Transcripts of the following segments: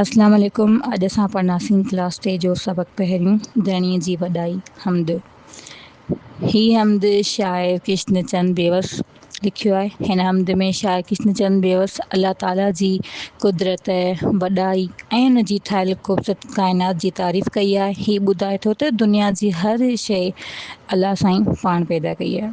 اسلام عليڪم اڄ اسان پڙهنداسين ڪلاس ٽي جو سبق پهريون ڌڻي جي وڏائي حمد هي حمد شاعر ڪشن چند بيوس لکيو آهي هن حمد ۾ شاعر ڪشن چند بيوس الله تعالي جي قدرت وڏائي ۽ ان جي ٺاهيل خوبصورت ڪائنات جي تعريف ڪئي آهي هي ٻڌائي ٿو ته دنيا جي هر شيء الله سائين پاڻ پيدا ڪئي آهي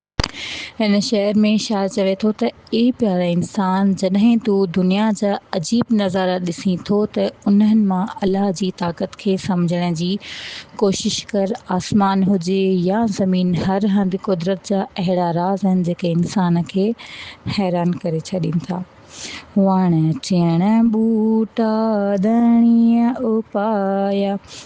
هن شعر ۾ شاعر چوي ٿو ته اي پياري انسان! جڏهن تون دنيا جا عجيب نظارا ڏسين ٿو ته انهن مان الله جي طاقت کي سمجهڻ جي ڪوشش ڪر. آسمان هجي يا زمين هر هنڌ قدرت جا اهڙا راز آهن جيڪي انسان کي حيران ڪري ڇڏين ٿا. وڻ چيڻ ٻوٽا ڌڻيء اپايا.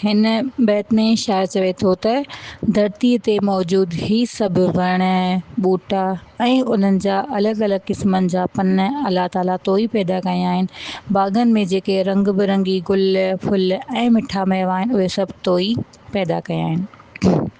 هن بيت ۾ شاعر چوي ٿو ته، ڌرتيء تي موجود هي سڀ وڻ، ٻوٽا ۽ انهن جا الڳ الڳ قسمن جا پن الله تعاليٰ تو ئي پيدا ڪيا آهن. باغن ۾ جيڪي رنگ برنگي گل، ڦل ۽ مٺا ميوا آهن، اهي سڀ تو ئي پيدا ڪيا آهن.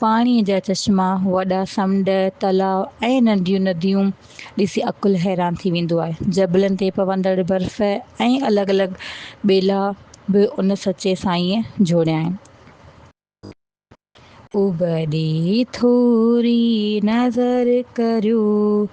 پاڻيء جا چشما، وڏا سمنڊ، تلاء ۽ ننڍيون نديون ڏسي عقل حيران ٿي ويندو آهي. جبلن تي پوندڙ برف ۽ الڳ الڳ ٻيلا به ان سچي سائينء جوڙيا آهن. ابڙي ٿوري نظر ڪريو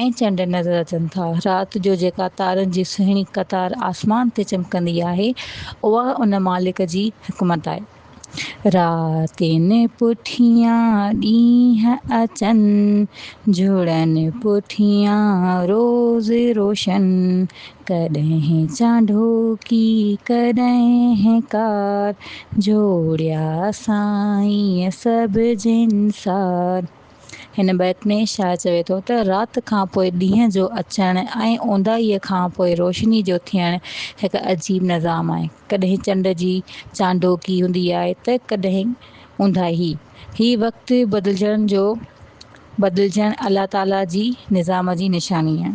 ۽ چنڊ نظر اچن ٿا. رات جو جيڪا تارن جي سهڻي قطار آسمان تي چمڪندي آهي، اها ان مالڪ جي حڪمت آهي. راتين پٺيان ڏينهن اچن، جهڙن پٺيان روز روشن. ڪڏهن چانڊوڪي ڪڏهن ڪار، جوڙيا سائين سڀ جنسار. هن بيت ۾ شاعر چوي ٿو ته رات کان پوء ڏينهن جو اچڻ ۽ اونداهيء کان پوء روشني جو ٿيڻ هڪ عجيب نظام آهي. ڪڏهن چنڊ جي چانڊوڪي هوندي آهي ته ڪڏهن اونداهي. هي وقت بدلجڻ جو بدلجڻ الله تعاليٰ جي نظام جي نشاني آهي.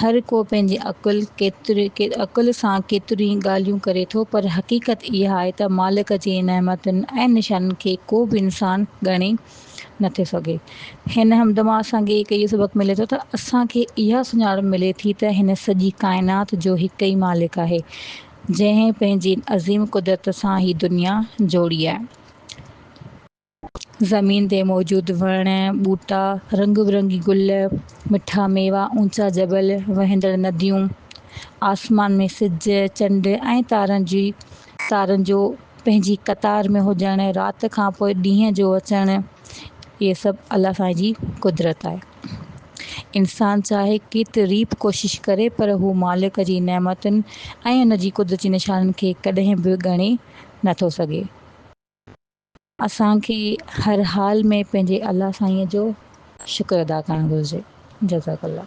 هر ڪو پنهنجي عقل عقل سان ڪيتريون ئي ڳالهيون ڪري ٿو پر حقيقت اها آهي ته مالڪ جي نعمتن ۽ نشانن کي ڪو به انسان ڳڻي نه ٿو سگهي. هن حمد مان اسان کي هڪ اهو سبق ملي ٿو ته اسان کي اها سڃاڻپ ملي ٿي ته هن سڄي ڪائنات جو هڪ ئي مالڪ آهي جنهن پنهنجي عظيم قدرت سان هي دنيا جوڙي آهي. زمين تي موجود وڻ، ٻوٽا، رنگ برنگي گل، مٺا ميوا، اونچا جبل، وهندڙ نديون، آسمان ۾ سج، چنڊ ۽ تارن جي تارن جو پنهنجي قطار ۾ هجڻ، رات کان پوء ڏينهن جو اچڻ، اهي سڀ الله سائين جي قدرت آهي. انسان چاهي ڪيتري به ڪوشش ڪري پر هو مالڪ جي نعمتن ۽ ان جي قدرت جي نشانن کي ڪڏهن به ڳڻي نه ٿو سگهي. اسان کي هر حال ۾ پنهنجي الله سائينء جو شڪر ادا ڪرڻ گهرجي. جزاڪ الله.